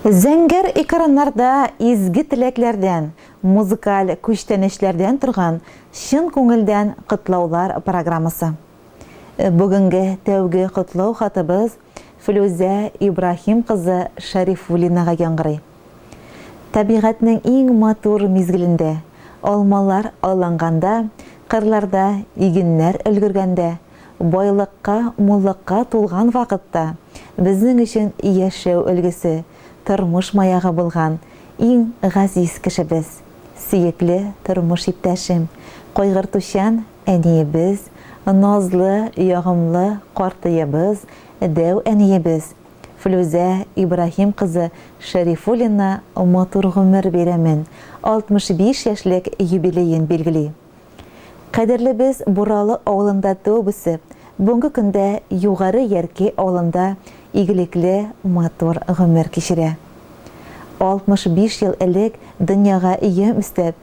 Зәңгәр экраннарда изге теләкләрдән, музыкаль күчтәнәчләрдән торган чын күңелдән котлаулар программасы. Бүгенге тәүге котлау хатыбыз Флүзә Ибраһим кызы Шәрифуллинага яңгырый. Табигатьнең иң матур мизгелендә, алмалар алланганда, кырларда игеннәр өлгергәндә, байлыкка, муллыкка тулган вакытта безнең өчен яшәү өлгесе, тормыш маягы булган иң газиз кешебез, сөекле тормыш иптәшем, кайгыртучан Әниебез, назлы, ягымлы картыебыз, дәү әниебез Флүзә Ибраһим кызы Шәрифуллина матур гомер бәйрәмен, 65 яшьлек юбилеен билгели. Кадерлебез Буралы авылында туып-үсеп, бүгенге көндә Югары Ярки авылында игелекле, матур гомер кичерә. 65 ел элек дөньяга йөм өстәп,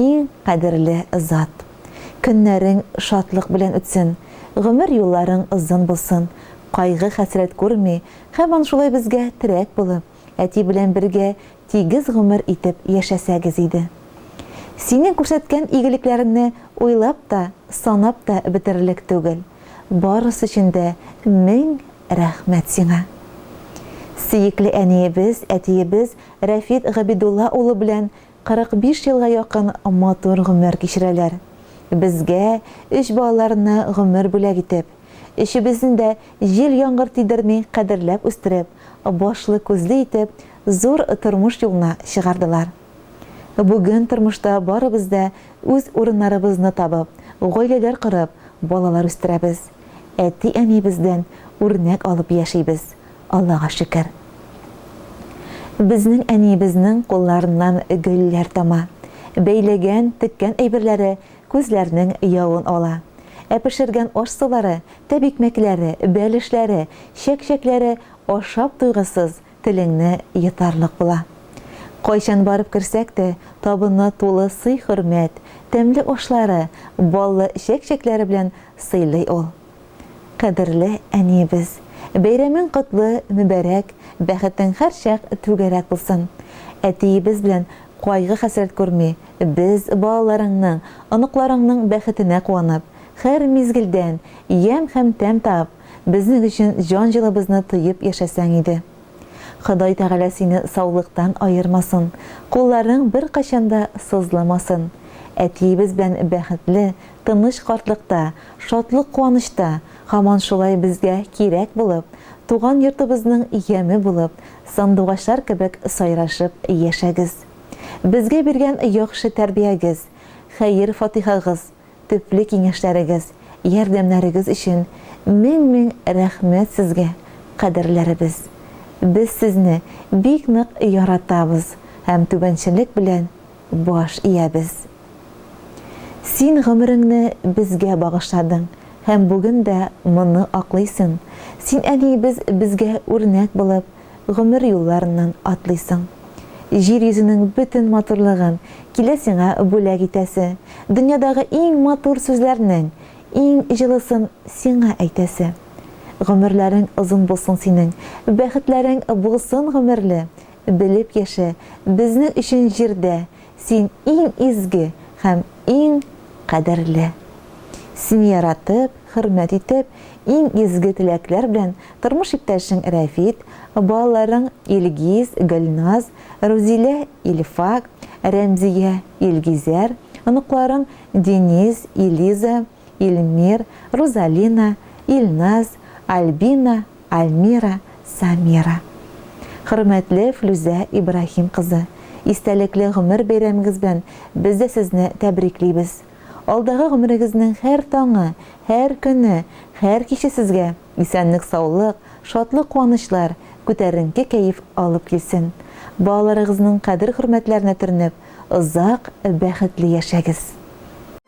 Иң кадерле зат. Көннәрең шатлык белән үтсен, гомер юлларың озын булсын, кайгы-хәсрәт күрми, һаман шулай безгә терәк булып, әти белән бергә тигез гомер итеп яшәсәгез иде. Синең күрсәткән игелекләреңне уйлап та, санап та бетерерлек түгел. Барысы өчен дә мең рәхмәт сиңа. Сөекле әниебез, әтиебез Рәфит Габидулла улы белән 45 елга якын матур гомер кичерәләр. Безгә, өч балаларына гомер бүләк итеп, өчебезне дә җил-яңгыр тидерми кадерләп үстереп, башлы-күзле итеп, зур тормыш юлына чыгардылар. Бүген тормышта барыбыз да үз урыннарыбызны табып, гаиләләр корып, балалар үстерәбез. Әти-әниебездән үрнәк алып яшибез. Аллага шөкер. Безнең әниебезнең кулларыннан гөлләр тама. Бәйләгән, теккән әйберләре күзләрнең явын ала. Ә пешергән аш-сулары, тәбикмәкләре, бәлешләре, чәк-чәкләре ашап туйгысыз, телеңне йотарлык була. Кайчан барып керсәк тә, табынны тулы сый-хөрмәт, тәмле ашлары, баллы чәк-чәкләре белән сыйлый ул. Кадерле әниебез, бәйрәмең котлы, мөбарәк, бәхетең һәрчак түгәрәк булсын. Әтиебез белән кайгы-хәсрәт күрми, без, балаларыңның, оныкларыңның бәхетенә куанып, хәр мизгелдән ямь һәм тәм табып, безнең өчен җан җылыбызны тоеп яшәсәң иде. Ходай Тәгалә сине саулыктан аермасын, кулларың беркайчан да сызламасын. Әтиебез белән бәхетле, тыныч картлыкта, шатлык-куанычта һаман шулай безгә кирәк булып, туган йортыбызның яме булып, сандугачлар кебек сайрашып яшәгез. Безгә биргән яхшы тәрбиягез, хәер-фатихагыз, төпле киңәшләрегез, ярдәмнәрегез өчен мең-мең рәхмәт сезгә, кадерләребез! Без сезне бик нык яратабыз һәм түбәнчелек белән Баш иябез. Син гомереңне безгә багышладың һәм бүген дә моны аклыйсың. Син әниебез безгә үрнәк булып, гомер юлларыннан атлыйсың. Җир йөзенең бөтен матурлыгын килә сиңа бүләк итәсе, дөньядагы иң матур сүзләрнең иң җылысын сиңа әйтәсе. Гомерләрең озын булсын синең, бәхетләрең булсын гомерле, Белеп яшә, безнең өчен җирдә Син иң изге һәм иң кадерле. Сине яратып, хөрмәт итеп, иң изге теләкләр белән тормыш иптәшең Рәфит, балаларың Илгиз, Гөлназ, Рузилә, Илфак, Рәмзия, Илгизәр, оныкларың Денис, Илиза, Илмир, Рузалина, Илназ, Альбина, Альмира, Самира. Хөрмәтле Флүзә Ибраһим кызы, истәлекле гомер бәйрәмегез белән без дә сезне тәбриклибез. Алдагы гомерегезнең һәр таңы, һәр көне, һәр киче сезгә исәнлек-саулык, шатлык-куанычлар, күтәренке кәеф алып килсен. Балаларыгызның кадер-хөрмәтләренә төренеп, озак бәхетле яшәгез.